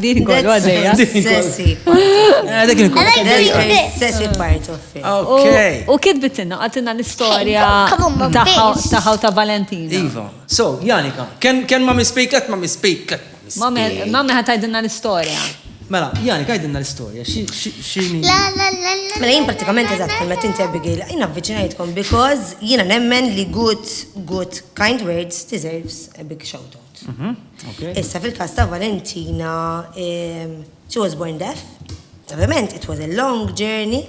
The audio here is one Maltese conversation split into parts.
Din kollu għaddeja. Sessi. Dik il-kol. Sessi part of it. Okay. U kitbitinna, għatinna l-istoria taħħa ta' Valentina. Iva. So, Janika, ken ma mispejket, ma mispejket. Ma meħa tajdinna l-istoria. Mela, jani, kajdinna l-istoria, xini. La, la, la, la. Mela, jien pratikament eżat, mela tinti Abigail, jina avvicinajtkom because jina nemmen li good, good, kind words deserves a big shout out. Issa fil-każ ta' Valentina, she was born deaf. Ovvjament, it was a long journey.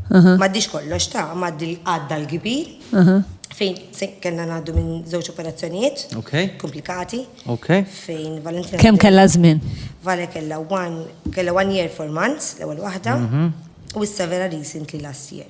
M'għaddix kollox ta', m'għaddi għadda l-kbir. Fejn kellna ngħaddu minn żewġ operazzjonijiet komplikati. Fejn Valentina. Kemm kellha żmien? Vale kellha one year four months l-ewwel waħda u issa vera recently last year.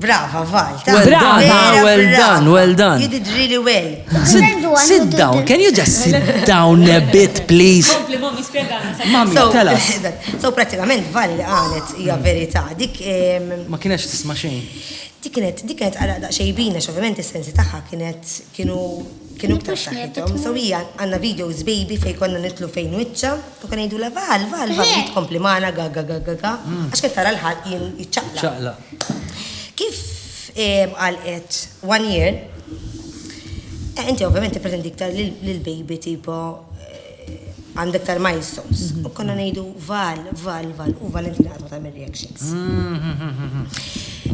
Brava, Val. Brava, well done, well done. Jididri li well. Sit down, can you just sit down a bit, please? Kompli, mami, spiegħana. Mami, tela. So, pratikament, Val li għanet, hija verita. Dik. Ma kienex tisma xejn. Dik kienet, dik kienet għara daqxejbina, xovjament il-sensi taħħa kienet, kienu, kienu ktar saħħitom. So, hija għanna videos baby fej konna nitlu fejn wicċa, u kan jgħidu la Val, Val, Val, jitkompli maħna, ga, ga, ga, ga, ga. Mm. Għax kien tara l-ħal jien jitċaqla. Kif qal qed one year, inti ovvjament tippretendi iktar li l-baby tipo għandu iktar milestones. U konna ngħidu val, val, val, u Valentina qatt ma tagħmel reactions.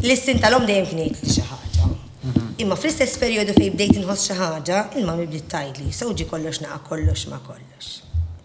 L-istin tal-om dejjem kien jgħid li xi ħaġa. Imma fl-istess perjodu fejn bdejt inħoss xi ħaġa, il-mami bdiet tgħidli, so ġie kollox naqa' kollox ma' kollox.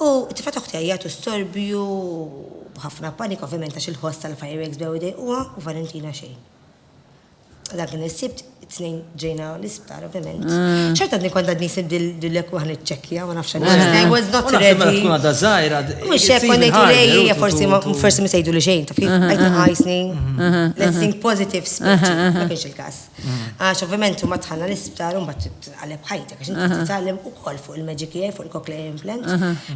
U t-tifgħa ta' ħtija jagħtu storbju b'ħafna panika ovvjament għax il-ħoss tal-fireworks bdew idejquha u Valentina xejn. Dan kien is-Sibt, it-Tnejn ġejna l-isptar ovvjament. Xorta għadni kont għadni jsib dil-lekwa niċċekkja ma nafx għaliex. I was not ready. Mela tkun għadha żgħira. Mhux hekk kont ngħidu lejja forsi forsi ma sejdu li xejn taf kif qed nħajsni. Let's think positive speech. Ma kienx il-każ. Għax ovvjament huma tħalla l-isptar u mbagħad titqaleb ħajtek għax inti titgħallem ukoll fuq il-Magic Ear, fuq il-Cochlear Implant.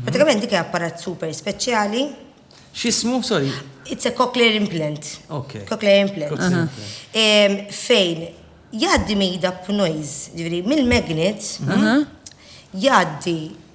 Pratikament dik apparat super speċjali. X'ismu, sorry? It's a Cochlear Implant. Okay. Cochlear Implant. Fejn jgħaddi made up noise, ġifieri mill-magnet jgħaddi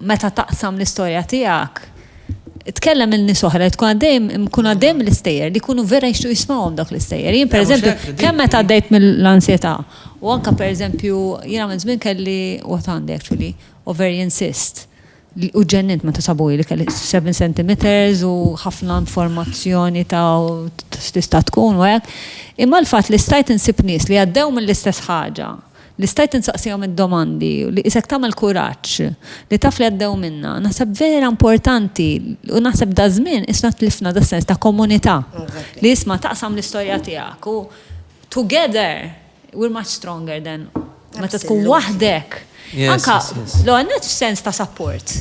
meta taqsam l-istorja tiegħek, tkellem lil nies oħra li tkun għaddejhom ikunu għaddejhom mill-istejjer li jkunu vera jixtiequ jismgħuhom dawk l-istejjer. Jien pereżempju, kemm meta għaddejt mill-ansjetà u anke pereżempju jiena minn żmien kelli u għad għandi actually ovarian cyst u ġġennimt meta sabuli li kelli seven centimetres u ħafna informazzjoni ta' x'tista' tkun u hekk. Imma l-fatt li stajt insib nies li għaddew mill-istess ħaġa, li stajt insaqsihom id-domandi u li qisek tagħmel kuraġġ li taf li għaddew minnha, naħseb vera importanti u naħseb daż-żmien qisna tlifna das-sens ta' komunità li isma' taqsam l-istorja tiegħek u together we're much stronger than meta tkun waħdek. Anke l-ewwel nett f'sens ta' sapport,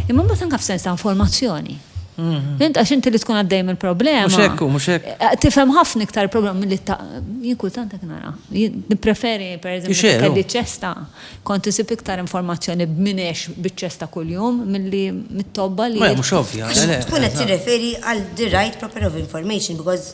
imma mbagħad anke f'sens ta' informazzjoni. Int għax inti li tkun għaddej mill-problema. Mhux hekk, mhux hekk. Eh, tifhem ħafna iktar il-problema milli ta' jien kultant hekk nara. Nippreferi pereżempju kelli ċesta kont isib iktar informazzjoni b'minex biċ-ċesta kuljum milli mit-tobba li. Mhux ovvja. Tkun qed tirreferi għal the right proper of information because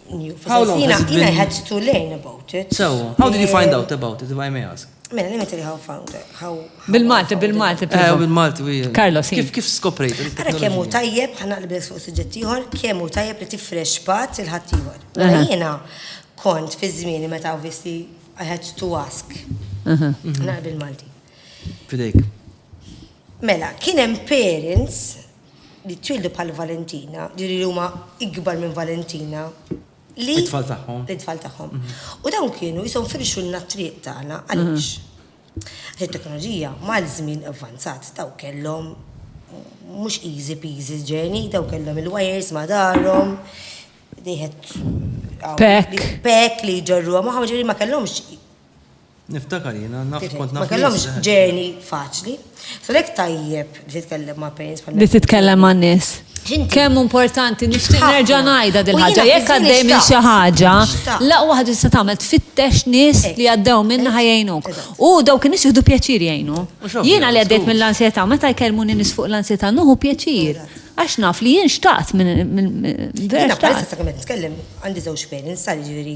How long has it been? I had to learn about it. So, how did you find out about it, if I may ask? Mela, let me tell you how found it. How, bil-Malti, bil-Malti. Eh, bil-Malti, wi. Carlos, kif, kif skoprejt? Għara kemmu tajjeb, ħana l-bes fuq suġġettiħor, kemmu tajjeb li tifrex pat il-ħattijħor. Mela jena kont fi zmini meta obviously I had to ask. Naqra bil-Malti. Fidejk. Mela, kienem parents li twieldu bħal Valentina, ġifieri li huma ikbar minn Valentina, li. It-tfal tagħhom. It-tfal tagħhom. U dawn kienu qishom firxulna t-triq tagħna għaliex? Għax it-teknoloġija mal-żmien avvanzat dawn kellhom mhux easy peasy journey, dawn kellhom il-wires ma' darhom, they had. Pekk. Pekk li jġorruha magħhom, ġifieri ma kellhomx Niftakar jiena, naf kont naf. Ma kellhomx journey faċli. So lek tajjeb li titkellem ma' parents bħal Li titkellem ma' nies. Kemm importanti nixtieq nerġa' ngħidha dil ħaġa jekk għaddej minn xi ħaġa, l-aqwa ħaġa tista' tagħmel tfittex nies li għaddew minnha ħa jgħinuk. U dawk in-nies jieħdu pjaċir jgħinu. Jiena li għaddejt mill-ansjetà meta jkellmuni nies fuq l-ansjetà nieħu pjaċir. Għax naf li jien xtaqt minn vera. Jiena bħalissa sakemm qed nitkellem għandi żewġ parents, jiġifieri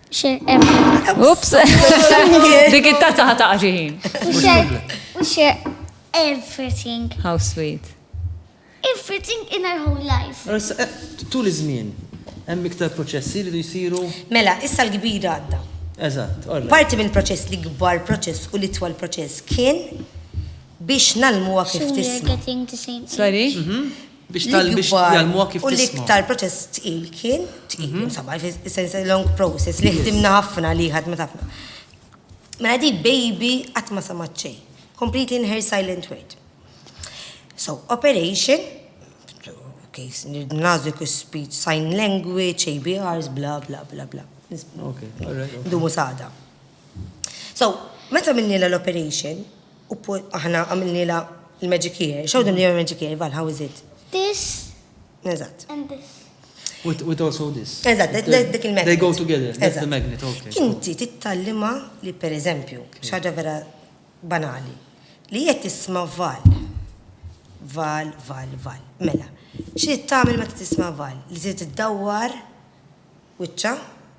Ups, dik it-tazza ħata ħin. We share everything. How sweet. Everything in our whole life. Eh, tul iż-żmien, hemm iktar proċessi li jsiru. Mela, issa l-kbira għadda. Eżatt, Parti minn proċess li kbar proċess u li twal proċess kien biex nalmuha kif tisma. Sorry? Mhm. Biex tal biex jgħalmuha kif tisma'. U l-iktar proċess tqil kien, tqil, insomma, fis-sens long process li ħdimna ħafna li ħadmet ħafna. Mela di baby qatt ma sama ċej. Completely in her silent word. So, operation, case, nazik speech, sign language, ABRs, bla bla bla bla. Dumu sada. So, meta minnila l-operation, U poi aħna għamilnielha l-magic here. Show them your magic here, Val, how is it? This. Eżatt. And this. With, with also this. Eżatt, dik il-magnet. They go together, that's the magnet, okay. Inti tittallima li per eżempju, xaġa vera banali, li jett tisma val. Val, val, val. Mela, xie tagħmel meta tisma val? Li tiddawwar wiċċa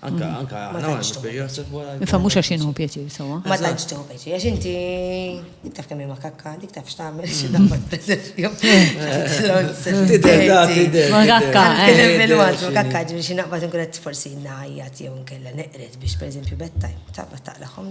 Anka, mm. anka, ma tantx Ifa mhux għax inhu pjaċir sewwa. Ma tantx tieħu pjaċir, għax inti taf kemm ma kakka, dik taf x'tagħmel xi mm. damma pereżempju. Ma kakka, fil-waqt ma kakka ġifieri xi naqbad inkun qed forsi ngħajjat jew nkella neqret biex pereżempju beddaj, taqbad taqlaqhom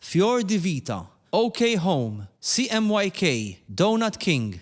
Fior di Vita, OK Home, CMYK, Donut King,